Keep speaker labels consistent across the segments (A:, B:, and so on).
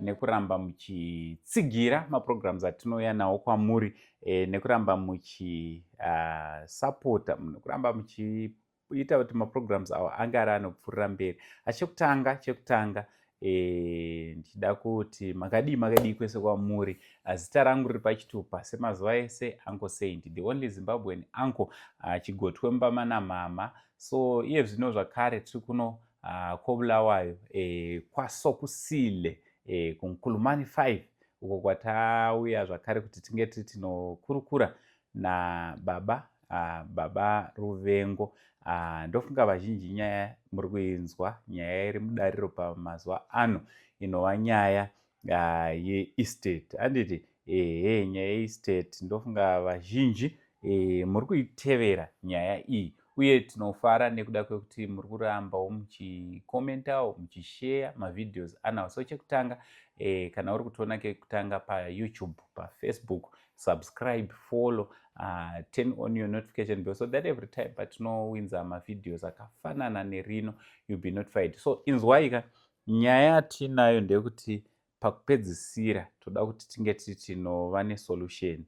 A: nekuramba muchitsigira maprograms atinouya nawo kwamuri e, nekuramba muchisapota ah, uh, nekuramba muchi kuita kuti maprograms awo ange ari anopfuurira mberi achekutanga chekutanga eh, ndichida kuti makadii makadii kwese kwamuri ah, zita rangu riri pachitupa semazuva ese anko saint the only zimbabwean anko ah, chigotwe mubama namama so iye zvino zvakare tiri kuno Ah, kobulawayo eh, kwasokusile eh, kunkulumani 5 uko kwatauya zvakare kuti tinge tiri tinokurukura nababa ah, baba ruvengo ah, ndofunga vazhinji nyaya muri kuinzwa nyaya iri mudariro pamazuva ano inova nyaya Ah, yeestate handiti ehe nyaya yeestate ndofunga vazhinji eh, muri kuitevera nyaya iyi uye tinofara nekuda kwekuti muri kurambawo muchikomentawo muchisheya mavideos anawo so chekutanga eh, kana uri kutiona kekutanga payoutube pafacebook subscribe follow uh, turn on your notification bell so that every time patinowinza mavideos akafanana nerino youll be notified so inzwaika Nyaya yatiinayo ndeyekuti pakupedzisira toda kuti tinge tiri tinova nesolution.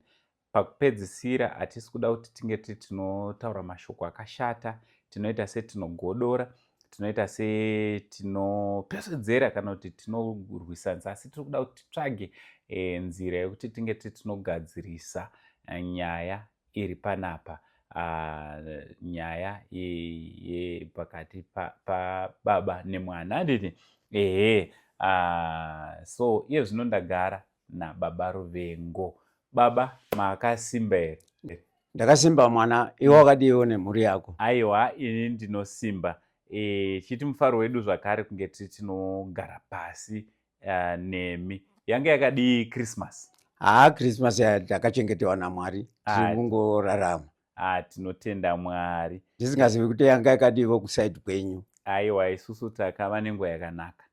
A: Pakupedzisira hatisi kuda kuti tinge tiri tinotaura mashoko akashata, tinoita setinogodora, tinoita setinopesvedzera kana kuti tinorwisanisa, asi tiri kuda kuti titsvage e, nzira yekuti tinge tiri tinogadzirisa eh, nyaya iri panapa nyaya yepakati pababa nemwana handiti ehe so iye zvino ndagara nababa ruvengo baba makasimba here ndakasimba
B: mwana iwe wakadiiwo nemhuri yako aiwa ini
A: ndinosimba e, chiti mufaro wedu zvakare kunge tiri tinogara pasi uh, nemi yange yakadii christmas haa christmas
B: takachengetewa namwari tirikungorarama ah, tinotenda
A: mwari ndisingazivi kuti yanga
B: yakadiivo kusaidi kwenyu aiwa isusu
A: takava nenguva yakanaka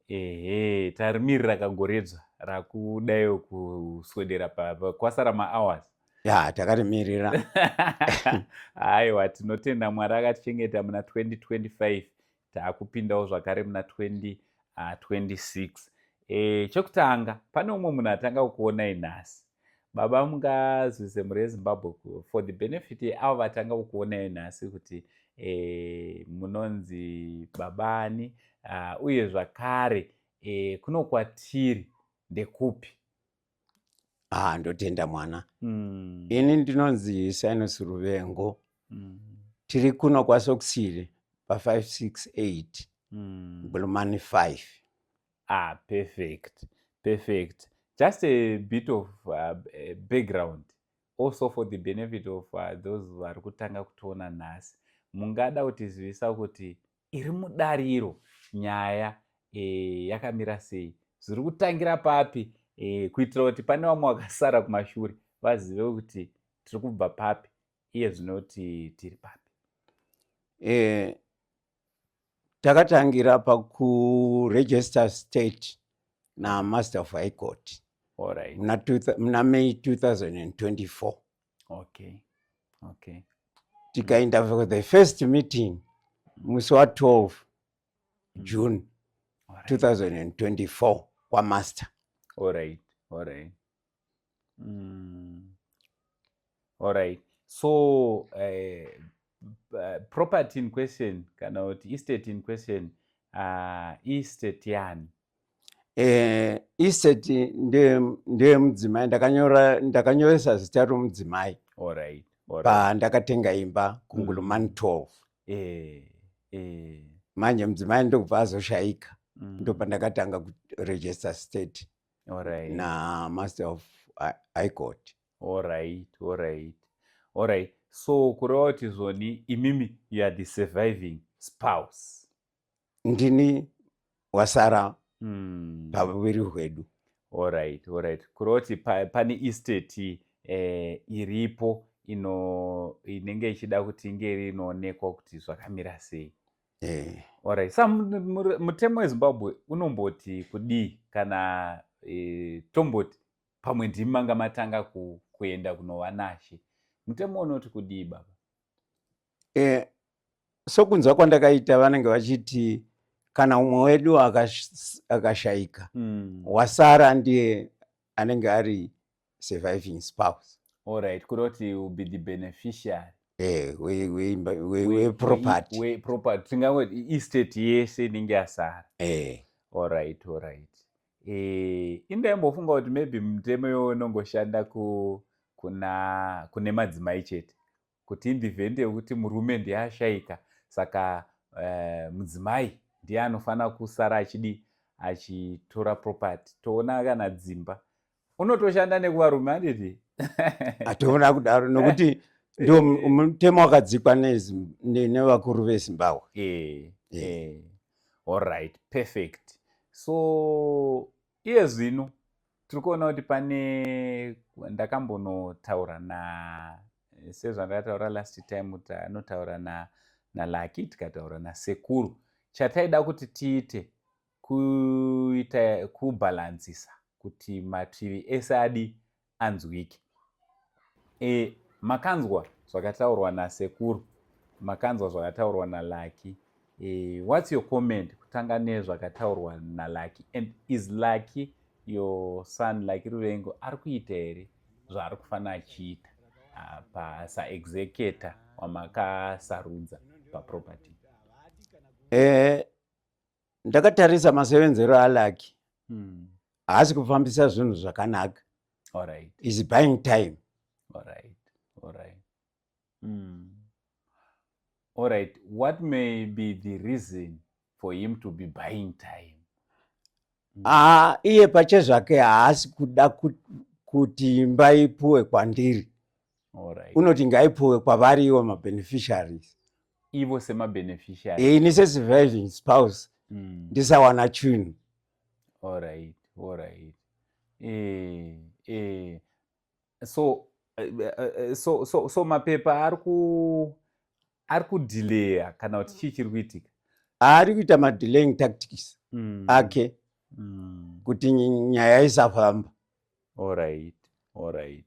A: ehe tarimirira kagoredzva rakudaio kuswedera kwasara mahours ya takarimirira aiwa tinotenda mwari akatichengeta muna 2025 taakupindawo zvakare muna 2026 uh, e, chekutanga pane umwe munhu atanga kukuonai nhasi baba mungazivise mhuri yezimbabwe for the benefit yeavo vatanga kukuonai nhasi kuti e, munonzi babani uh, uye zvakare e, kuno kwatiri ndekupi haa
B: ndotenda mwana mm. ini ndinonzi sinus ruvengo mm. tiri kuno kwasokusiri pa568 mm. bulumani 5 ah, perfect
A: perfect just a bit of uh, background also for the benefit of uh, those vari kutanga kutiona nhasi mungada kutizivisa kuti iri mudare iro nyaya e, yakamira sei zviri kutangira papi e, kuitira kuti pane vamwe vakasara kumashure vazive kuti tiri kubva papi iye zvino kuti tiri papi e,
B: takatangira pakuregister state namaster of high court muna right.
A: may
B: 2024 okay
A: okay
B: tikaenda for the first meeting musi wa 12 mm. june right. 2024 kwamaster alright alright
A: mm. alright so uh, property in question kana kuti estate in question uh, estate yani eh, estate
B: ndeyemudzimai ndakanyoresa zita romudzimai right, right.
A: pandakatenga
B: imba kungulumani 12 mm. eh, eh. manje mudzimai ndokubva azoshayika mm. ndopandakatanga kuregister state right. namaster of high court Alright, alright,
A: alright. So kureva kuti zvoni imimi you are the surviving spouse.
B: Ndini
A: wasara
B: mm. paviri hwedu.
A: Alright, alright. Kureva kuti pa, pane estate eh, iripo ino inenge ichida kuti inge rinoonekwa kuti zvakamira sei. Eh. Alright. Sa mutemo weZimbabwe unomboti kudii kana eh, tomboti pamwe ndimi manga matanga ku, kuenda kunova nashe mutemo unoti kudii baba eh,
B: sokunzwa kwandakaita vanenge vachiti kana umwe wedu akashaika mm. wasara ndiye anenge ari surviving spouse allright kuri kuti
A: will be the beneficiary eh,
B: weproperty
A: tingangoti estate yese inenge yasara eh. allright allright Eh, indaimbofunga kuti maybe mutemo iwowo unongoshanda kuna kune madzimai chete kuti indivhende yekuti murume ndiye ashaika saka eh, mudzimai ndiye anofanira kusara achidi achitora property toona kana dzimba unotoshanda nekuvarume anditi atoona
B: kudaro nokuti eh. ndio mutemo wakadzikwa nevakuru vezimbabwe eh, eh.
A: allright perfect so iye zvino tiri kuona kuti pane ndakambonotaura na sezvandakataura last time kuti anotaura na nalaki tikataura nasekuru chataida kuti tiite kuita kubhalansisa kuti mativi ese adi anzwike e, makanzwa zvakataurwa nasekuru makanzwa zvakataurwa nalaki e, whats your comment kutanga nezvakataurwa nalaki and is laki your son laki ruvengo ari kuita here zvaari kufanira achiita ah, pasaexeceta wamakasarudza paproperty eh,
B: ndakatarisa masevenzero alaki hmm. haasi mm. kufambisa zvinhu zvakanaka right.
A: is buying
B: time right.
A: Right. Mm. All right. What may be the reason for him to be buying time? Hmm. Ah,
B: iye pache zvake haasi kuda kuti imba ipuwe kwandiri. All right.
A: Unoti ngaipuwe
B: kwavari iwo mabeneficiaries. ivo
A: semabeneficiary eh, ini sesurviving
B: spouse mm. ndisawana chunhu allright
A: allright eh, eh. so eh, eh, eh, so so so mapepa ari ku ari kudileya kana kuti chii chiri kuitika ari kuita
B: madelaying tactics mm. ake mm. kuti nyaya isafamba Alright,
A: alright,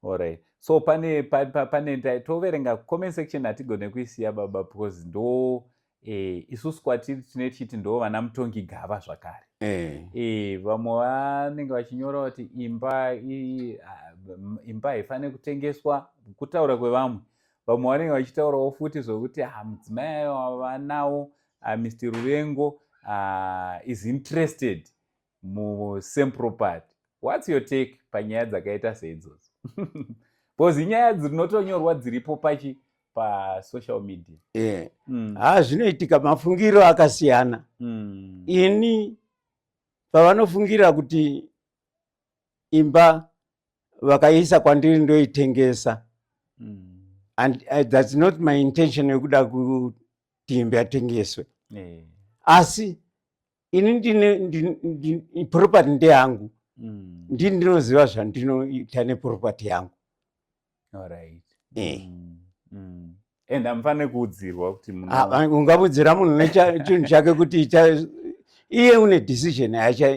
A: alright. So pane pa, pa, pane toverenga comment section hatigone kuisiya baba because ndo eh, isusu kwatiri tine chiti ndo vana mutongi gava zvakare eh. Eh, vamwe vanenge vachinyora kuti imba i, imba haifanire kutengeswa kutaura kwevamwe vamwe vanenge vachitaurawo futi zvokuti ha ah, mudzimai ayo vanawo ah, mr ruvengo uh, is interested mucentral part whats your take panyaya dzakaita seidzodzo bcause inyaya dzinotonyorwa dziripo pachi pasocial media yeah. mm. ha
B: zvinoitika mafungiro akasiyana mm. ini pavanofungira kuti imba vakaisa kwandiri ndoitengesa mm. and uh, thats not my intention yekuda kuti imba yatengeswe yeah. asi ini ndine property ndeyangu mm. ndi ndinoziva zvandinoita neproperty yangu
A: right. yeah. mm. mm. and amfane kuudzirwa kuti ah, ungamudzira munhu
B: nechinhu chake kuti iye une decision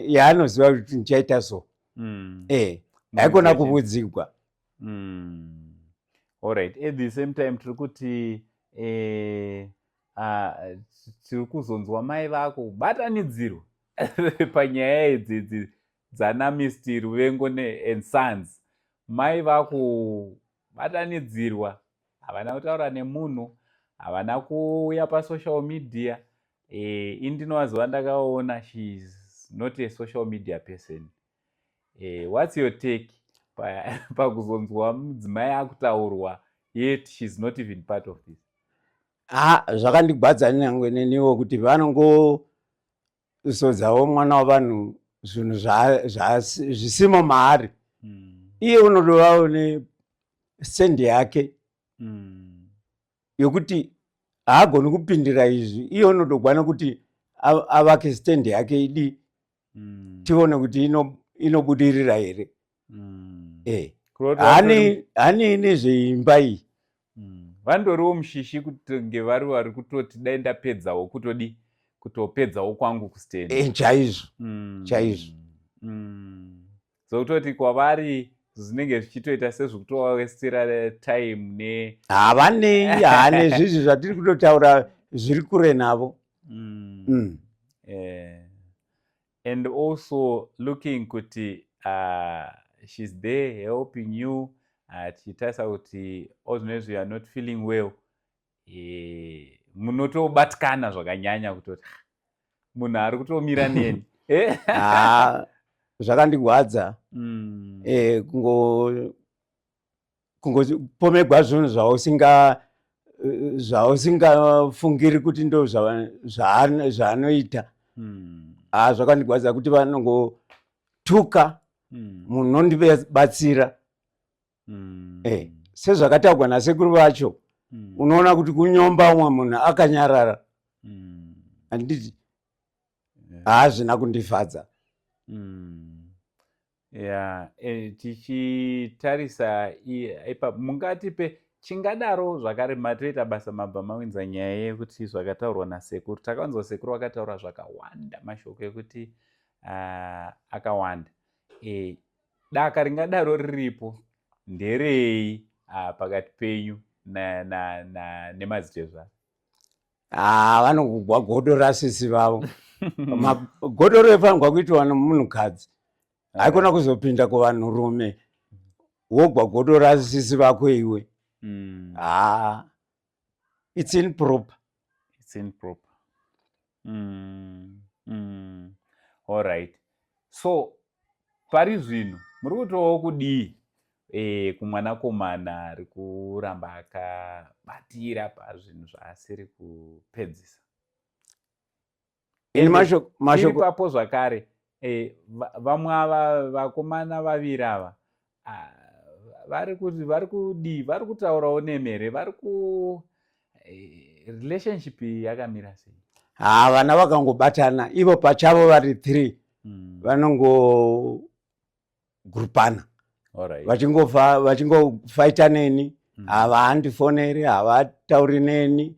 B: yaanoziva kuti ndichaita so mm. eh haikona kuvudzigwa mm.
A: allright at the same time tiri kuti eh, ah, tiri kuzonzwa mai vako kubatanidzirwa panyaya idzidzi dzanamisti ruvengo and sons mai vakubatanidzirwa havana kutaura nemunhu havana kuuya pasocial media e, indinovaziva ndakaona shes not a social media person eh, whats your take pakuzonzwa mudzimai akutaurwa yet shes not even part of this ha
B: zvakandigwadza nyangwe neniwo kuti vanongozodzawo mwana wavanhu zvinhu zvisimo maari hmm. iye unodovawo nesendi yake hmm. yokuti haagoni kupindira izvi iye unotogwana kuti avake stendi yake idi mm. tione kuti inobudirira ino
A: here mm. eh. hani
B: hani ine zveimba iyi mm. vandoriwo
A: mushishi kutonge vari vari kutoti dai ndapedzawo kutodi kutopedzawo kwangu kusteni eh, chaizvo mm.
B: chaizvo mm.
A: dzokutoti kwavari zvinenge zvichitoita sezvikutovawestira time ne havanei
B: hane zvizvi zvatiri kutotaura zviri kure navo mm. Mm.
A: Yeah. and also looking kuti uh, she's there helping you achitarisa uh, kuti all zvinezvi youare not feeling well Eh, munotobatikana zvakanyanya kutoti ah, munhu ari kutomira neni eh? ah,
B: zvakandigwadza mm. eh, kungopomegwa zvinhu zvausinga zvausingafungiri kuti ndo zvaanoita mm. ah, zvakandigwadza kuti vanongotuka mm. munondibatsira mm. eh, sezvakataurwa nasekuru vacho mm. unoona kuti kunyomba umwe munhu akanyarara mm. anditi haazvina yeah. kundifadza mm. yeah. e,
A: tichitarisa ipa mungati pe chingadaro zvakare matoita basa mabva mawinza nyaya yekuti zvakataurwa nasekuru takawanzwa sekuru vakataura zvakawanda mashoko ekuti uh, akawanda e, Daka ringadaro riripo nderei ah, pakati penyu nemadzitezvara? Ah, vanogugwa
B: godo rasisi vavo. Godo rofanirwa kuitwa nomunhukadzi. Haikona eh. kuzopinda kuvanhurume wogwa godo rasisi vako iwe. Mm. Ah. it's improper it's improper mm,
A: mm. all right so pari zvino muri kutovawo kudii e, kumwanakomana ari kuramba akabatira pazvinhu zvaasiri kupedzisa ipapo zvakare eh, vamwe ava vakomana vaviri ava ah, vari kuti vari kudii vari kutaurawo nemhere vari ku eh, relationship yakamira sei haa ah, vana
B: vakangobatana ivo pachavo vari three hmm. vanongo vachingogurupana vachingova vachingofaita neni mm. havandifoneri havatauri neni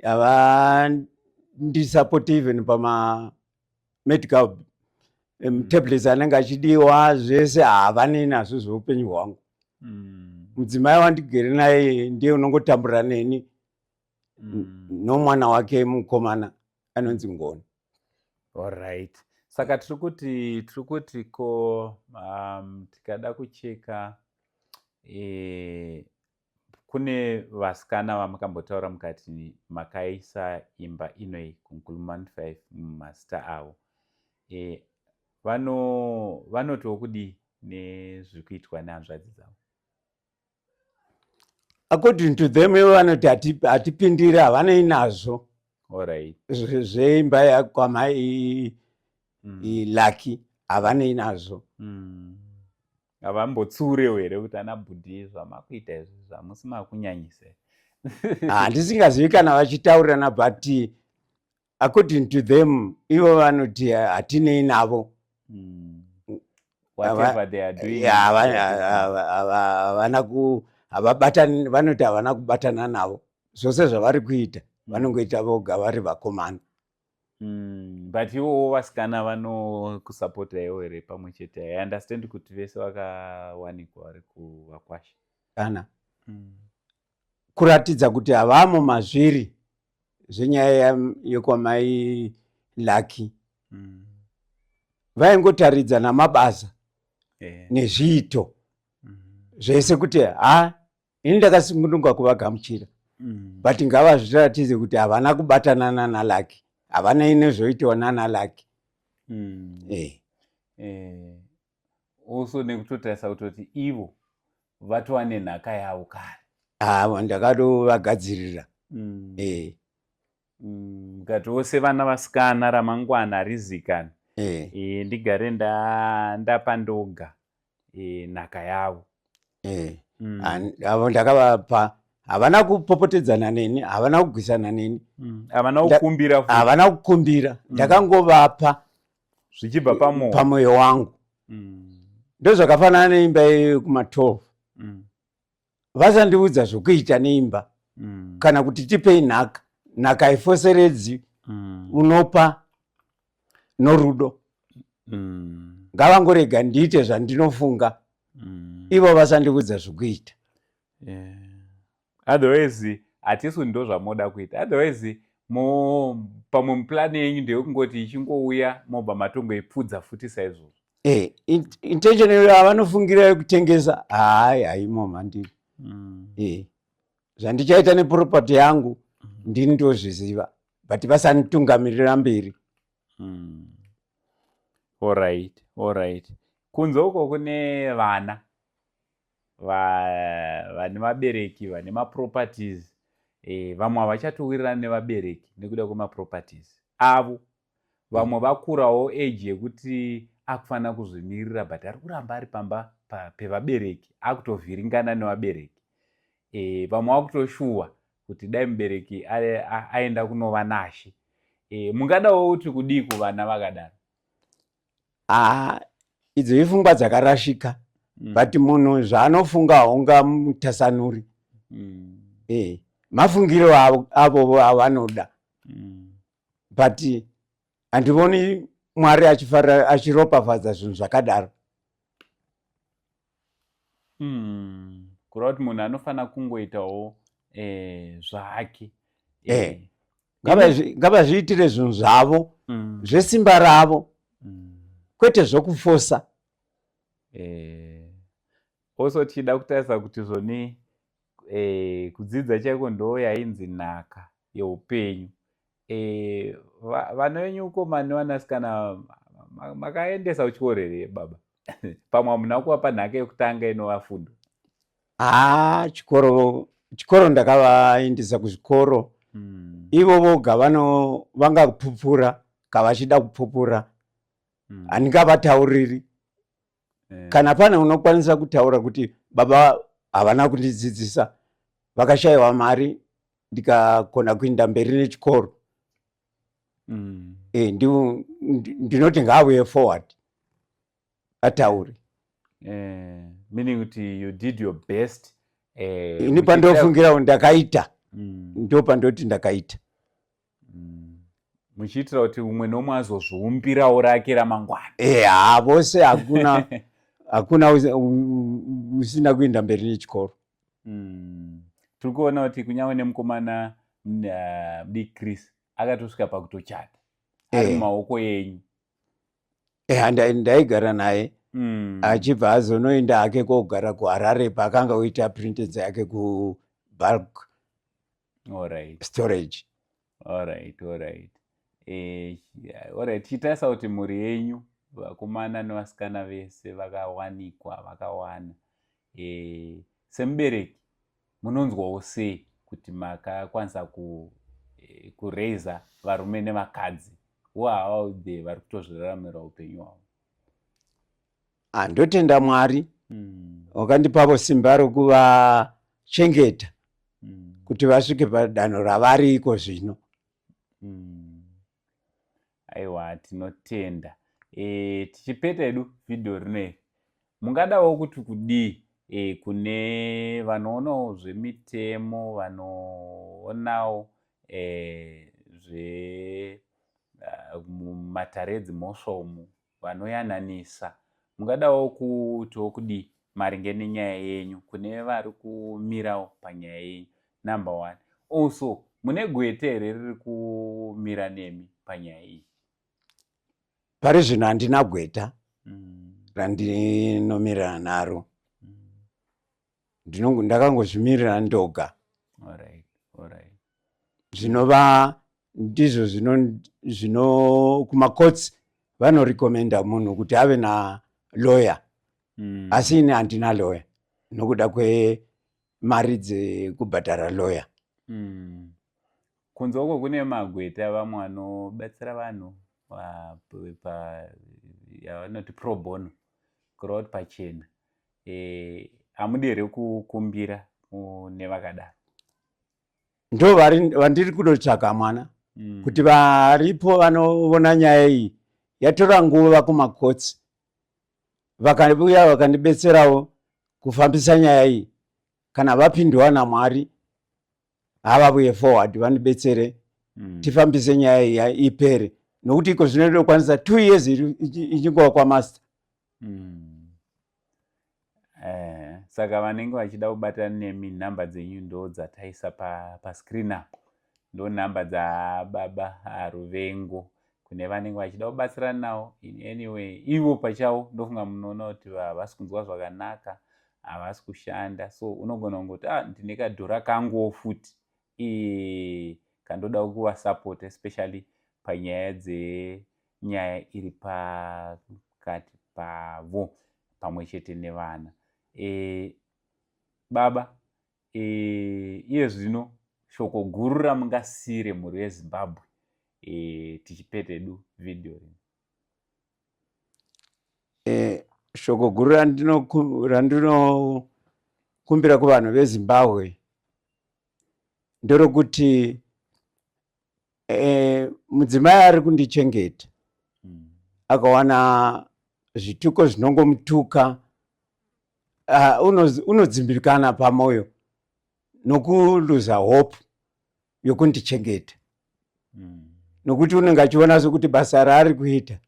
B: havandisapoti even pama medical um, tablets anenge achidiwa zvese havanei nazvo zveupenyu hwangu mm. mudzimai mm. wandigere naye ndiye unongotambura neni mm. nomwana wake mukomana anonzi ngoni Alright.
A: Saka tiri kuti tiri kuti ko um, tikada kucheka eh, kune vasikana vamakambotaura mukati makaisa imba inoi kunkulman 5 mumazita avo eh, vanotiwo kudii nezviri kuitwa nehanzvadzi dzavo
B: according to them ivo vanoti hatipindiri havanei nazvo
A: zveimba
B: yakwamai mm. laki havanei nazvo mm. havambotsurewo
A: here kuti ana bhudhi zvamakuita izvi zvamusi makunyanyise
B: handisingazivi kana vachitaurirana but according to them ivo vanoti hatinei navo
A: hmm. havana
B: kuhavabatani vanoti havana kubatana navo zvose zvavari kuita hmm. vanongoita voga vari vakomana
A: hmm, but ivowo vasikana vanokusapota iwo here pamwe chete i understand kuti vese vakawanikwa vari kuvakwasha kana
B: kuratidza kuti havamo mazviri zvenyaya yekwamai lucky mm. vaingotaridza namabasa yeah. nezviito mm. zvese kuti ha ini ndakasungunuka kuvagamuchira mm. but ngavazviratize kuti havana kubatana nana lucky havana inezvoitiwa nana lucky mm. yeah.
A: yeah. also nekutotarisa kutoti ivo vatova nenhaka yavo kare haa ndakatovagadzirira
B: mm. eh.
A: mm, mukati mm. wose vana vasikana ramangwana harizikani eh. eh, ndigare ndapa ndoga eh, nhaka yavo eh. mm. avo ndakavapa
B: havana kupopotedzana neni havana kugwisana neni mm. havana kukumbira
A: havana kukumbira
B: mm.
A: ndakangovapa zvichibva
B: pamwoyo pamwoyo wangu mm. ndozvakafanana neimba yeyo kuma 12 mm. vasandiudza zvokuita neimba mm. kana kuti tipei nhaka nhaka ifoseredzi mm. unopa norudo mm. ngavangorega ndiite zvandinofunga mm. ivo vasandiudza zvokuita yeah.
A: Otherwise hatisu ndozvamoda kuita otherwise mo pamwe muplan yenyu ndeyekungoti ichingouya mobva matongoipfudza futi saizvozvo eh,
B: intention iyo avanofungira yekutengesa hayi haimo mhandiri mm. eh, zvandichaita neproperty yangu mm. ndini ndozviziva but vasanditungamirira mberi mm.
A: allright allright kunze uko kune vana vane vabereki vane maproperties e, vamwe havachatowirirani nevabereki nekuda kwemaproperties avo vamwe mm. vakurawo age yekuti akufanira kuzvimiririra but ari kuramba ari pamba pevabereki akutovhiringana nevabereki e, vamwe vakutoshuwa kuti dai mubereki aenda kunova nashe e, mungadawo kuti kudii kuvana vakadaro haa
B: idzo ifungwa dzakarashika mm. but munhu zvaanofunga haunga mutasanuri mm. eh, mafungiro avo avanoda mm. but handivoni mwari achiropafadza zvinhu zvakadaro
A: Mm. Kureva kuti munhu anofanira kungoitawo eh, zvake. Eh. Eh.
B: Ngavazvi- ngavazviitire zvinhu zvavo Mm. zvesimba ravo Mm. kwete zvokufosa Eh,
A: also tichida kutarisa kuti zvoni eh, kudzidza chaiko ndo yainzi nhaka yeupenyu Eh, vana venyu ukomani nevanasikana makaendesa kuchikoro here baba pamwe hamuna kuvapa nhaka yekutanga inova fundo haa ah, chikoro
B: chikoro ndakavaendesa kuzvikoro hmm. ivo voga vano vangapupura kavachida kupupura hmm. handingavatauriri eh. kana pane unokwanisa kutaura kuti baba havana kundidzidzisa vakashayiwa mari ndikakona kuinda mberi nechikoro mm. e, ndinoti ngaavuye forward ataure
A: eh, meaning kuti you did your best eh, ini
B: pandofungira ndakaita mm. ndo pandoti ndakaita
A: muchiitira kuti umwe nomwe azozviumbirawo rake ramangwana eh, haa vose
B: hakuna hakuna usina kuenda mberi nechikoro hmm.
A: tiri kuona kuti kunyange nemukomana big chris akatosvika pakutochata eh. ari mumaoko enyu eha eh,
B: ndaigara naye hmm. achibva azonoenda hake kogara kuharare paakanga oita printed dzake kubulk alright storage alright
A: alright eh alright chitarisa kuti mhuri yenyu vakomana nevasikana vese vakawanikwa vakawana eh semubereki munonzwawo sei kuti makakwanisa ku eh, kuraiser varume nevakadzi who are out there vari kutozviraramira upenyu hwavo ah,
B: ndotenda mwari mm. wakandipavo simba rokuvachengeta mm. kuti vasvike padanho ravari iko zvino mm.
A: aiwa tinotenda e, tichipeta edu vhidhiyo rino iri mungadawo kuti kudii e, kune vanoonawo zvemitemo vanoonawo e, zve uh, mumatare edzimhosva umu vanoyananisa mungadawo kuitawo kudii maringe nenyaya yenyu kune vari kumirawo panyaya yenyu number one also mune gwete here riri kumira nemi panyaya iyi
B: pari zvino handina gweta mm. randinomirirana naro mm. ndakangozvimirira ndoga
A: zvinova
B: ndizvo zvino zvino kumakotsi vanorekomenda munhu kuti ave na lawyer mm. asi ini handina lawyer nokuda kwemari dzekubhadhara lawyer mm.
A: kunze uko kune magweta vamwe vanobatsira vanhu yavanoti pro bono kureva kuti pachena eh, hamudi here kukumbira mune vakadaro
B: ndo vandiri kunotsvaga mwana mm. kuti varipo vanovona nyaya iyi yatora nguva kumakotsi vakauya vakandibetserawo kufambisa nyaya iyi kana vapindwa namwari havavuye forward vandibetsere mm. tifambise nyaya iya ipere nokuti iko zvino ndinokwanisa two years ichingova kwamaster mm.
A: eh, saka vanenge vachida kubatana nemi nhamba dzenyu ndo dzataisa pascreen pa apo ndo nhamba dzababa ruvengo kune vanenge vachida kubatsirana nawo in any way ivo pachavo ndofunga munoona kuti havasi kunzwa zvakanaka havasi kushanda so unogona kungoti ah ndine kadhora kanguwo futi e kandoda kuvasapota especially panyaya dzenyaya iri pakati pavo pamwe chete nevana e baba e, iye zvino shoko guru ramungasiire mhuri yezimbabwe e, tichipetedu vhidhiyo rino
B: e, shoko guru randinokumbira kuvanhu vezimbabwe nderokuti Eh, mudzimai ari kundichengeta mm. akawana zvituko zvinongomutuka uh, unodzimbikana uno pamwoyo nokuluza hope yokundichengeta mm. nokuti unenge achiona sokuti basa raari kuita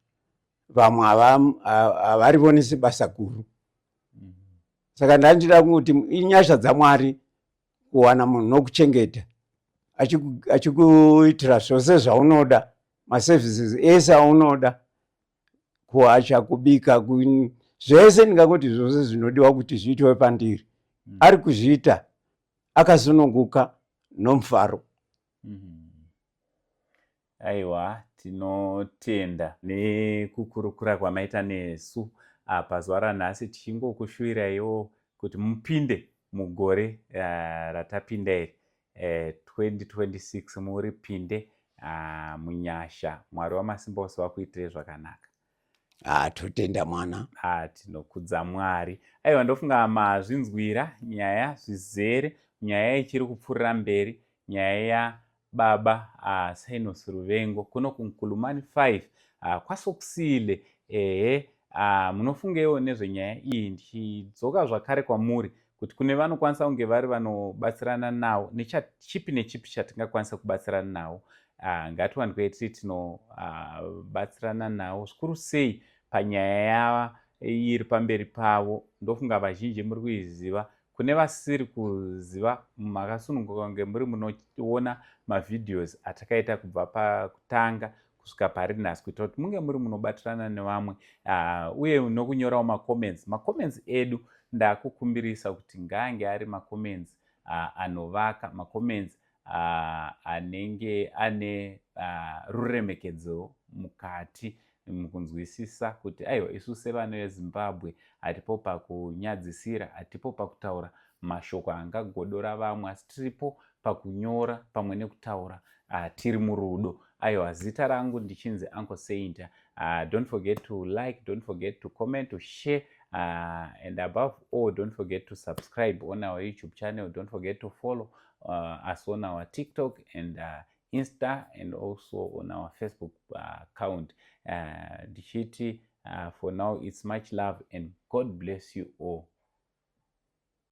B: vamwe havarivoni sebasa guru mm. saka ndandida kuti inyasha dzamwari kuwana munhu nokuchengeta achikuitira zvose zvaunoda maservices ese aunoda kuacha kubika zvese ndingakuti zvose zvinodiwa kuti zviitiwe pandiri mm. ari kuzviita akasununguka nomufaro mm -hmm.
A: Aiwa, tinotenda nekukurukura kwamaita nesu apa zuva ranhasi tichingokushuviraiwo kuti mupinde mugore uh, ratapinda iri uh, eh, 2026 muripinde uh, ah, munyasha mwari wamasimba ose vakuitirei zvakanaka ah,
B: totenda mwana ah, tinokudza
A: mwari aiwa ndofunga mazvinzwira nyaya zvizere nyaya ichiri kupfuurira mberi nyaya yababa ah, sinos ruvengo kuno kunkulumani 5 ah, kwasokusile ehe ah, munofungeiwo nezvenyaya iyi ndichidzoka zvakare kwamuri kuti kune vanokwanisa kunge vari vanobatsirana nawo nechipi nechipi chatingakwanisa kubatsirana nawo ah, ngatiwanikwe tiri tinobatsirana ah, nawo zvikuru sei panyaya yava iri pamberi pavo ndofunga vazhinji muri kuiziva kune vasiri kuziva makasununguka kunge muri munoona mavhideos atakaita kubva pakutanga kusvika pari nhasi kuitira kuti munge muri munobatirana nevamwe ah, uye nokunyorawo macomments macomments edu ndakukumbirisa kuti ngaange ari macomments ah, anovaka macomments ah, anenge ane ruremekedzo mukati mukunzwisisa kuti aiwa isu sevana vezimbabwe hatipo pakunyadzisira hatipo pakutaura mashoko angagodora vamwe asi tiripo pakunyora pamwe nekutaura uh, tiri murudo aiwa zita rangu ndichinzi uncle saint uh, don't forget to like don't forget to comment to share uh, and above all don't forget to subscribe on our youtube channel don't forget to follow uh, us on our tiktok and uh, insta and also on our facebook uh, account uh, ndichiti uh, uh, for now it's much love and god bless you all